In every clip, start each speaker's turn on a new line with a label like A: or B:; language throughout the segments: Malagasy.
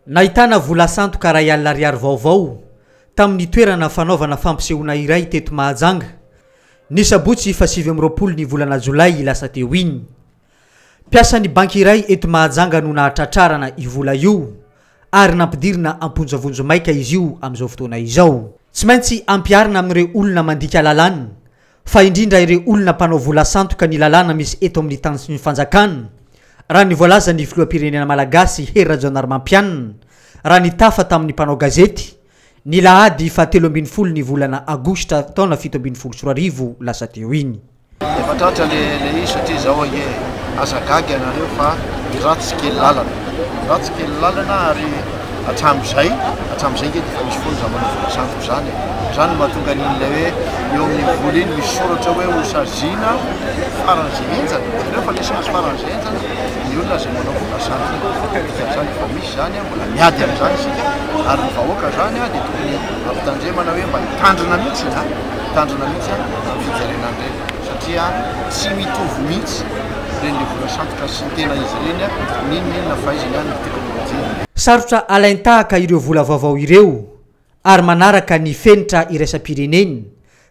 A: Nahitana vola sandoka iray alina ariary vaovao tamin'ny toerana fanaovana fampisehoana iray teto Mahajanga, ny sabotsy fahasivy amby roapolo ny volana jolay lasa teo iny. Mpiasan'ny banky iray eto Mahajanga no nahatratrarana io vola io ary nampidirina am-ponja vonjimaika izy io amin'izao fotoana izao. Tsy maintsy ampiharina amin'ireo olona mandika lalàna fa indrindra ireo olona mpanao vola sandoka ny lalàna misy eto amin'ny tany sy ny fanjakana, raha ny voalazan'ny filoham-pirenena malagasy Hery Rajaonarimampianina, raha nitafa tamin'ny mpanao gazety, ny lahady faha telo ambin'ny folo ny volana aogositra taona fito ambin'ny folo sy roa arivo lasa teo iny. Efa tratra le
B: le izy satria zao ange aza gaga ianareo fa ny ratsy kely lalana, ny ratsy kely lalana ary hatramin'izay, hatramin'izay nge efa misy foana izany manao vola sandoka izany e! izany no mahatonga an'iny ilay hoe eo amin'ny vola iny misy soratra hoe ho saziana faran'izay henjana, jereo fa nisy azy faran'izay henjana ny olona izay manao vola sandoka, dikan'izany efa misy izany an, mbola miady amin'izany isika ary ny vahoaka izany an dia tokony hampitandremana hoe mba hitandrina mihintsy an, hitandrina mihintsy an amin'ny fijerena an'ireny satria tsy mitovy mihintsy ireny le vola sandoka sy. Tsy ny tena izy ireny a! N'inona n'inona fahaizany any ny teknolojia. Sarotra
A: alain-tahaka ireo vola vaovao ireo ary manaraka ny fenitra iraisam-pireneny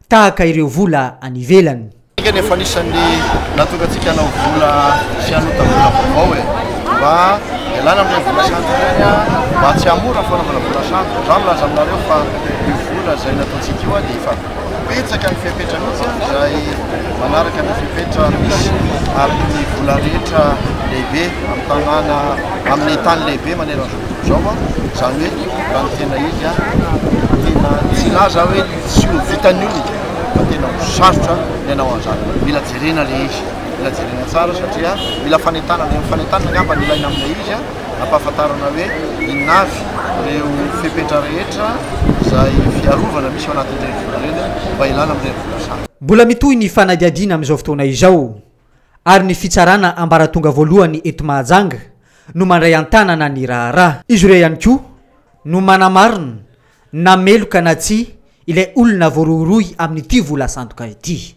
A: tahaka ireo vola any ivelany. Isika anie efa anisan'ny
B: natokantsika hanao vola sy hanota vola vaovao e! Mba ialana amin'ireny vola sandoka ireny a! Mba tsy hahamora ny fanaovana vola sandoka. Za milaza aminareo fa io vola izay nataontsika io a dia efa. Betsaka ny fepetra mihitsy an, izay manaraka ny fepetra misy ary ny vola rehetra lehibe amin'ny tanàna, amin'ny tany lehibe maneran'izao tontolo izao an, izany hoe raha ny tena izy an, tena tsy hilaza aho hoe tsy ho vitan'ny olona fa tena ho sarotra ny hanao an'izany. Mila jerena ilay izy, mila jerena tsara satria mila fanentanana, io fanentanana angamba no ilaina amin'ilay izy an. Ampahafantarana hoe inona avy ireo fepetra rehetra izay fiarovana misy ao anatin'ireny vola ireny mba hilana amin'ireny vola sarotra. Mbola mitohy ny
A: fanadihadiana amin'izao fotoana izao ary ny fitsarana ambaratonga voalohany eto Mahajanga no mandray an-tanana ny raharaha. Izy ireo ihany koa no manamarina na meloka na tsia ilay olona voarohirohy amin'ity vola sandoka ity.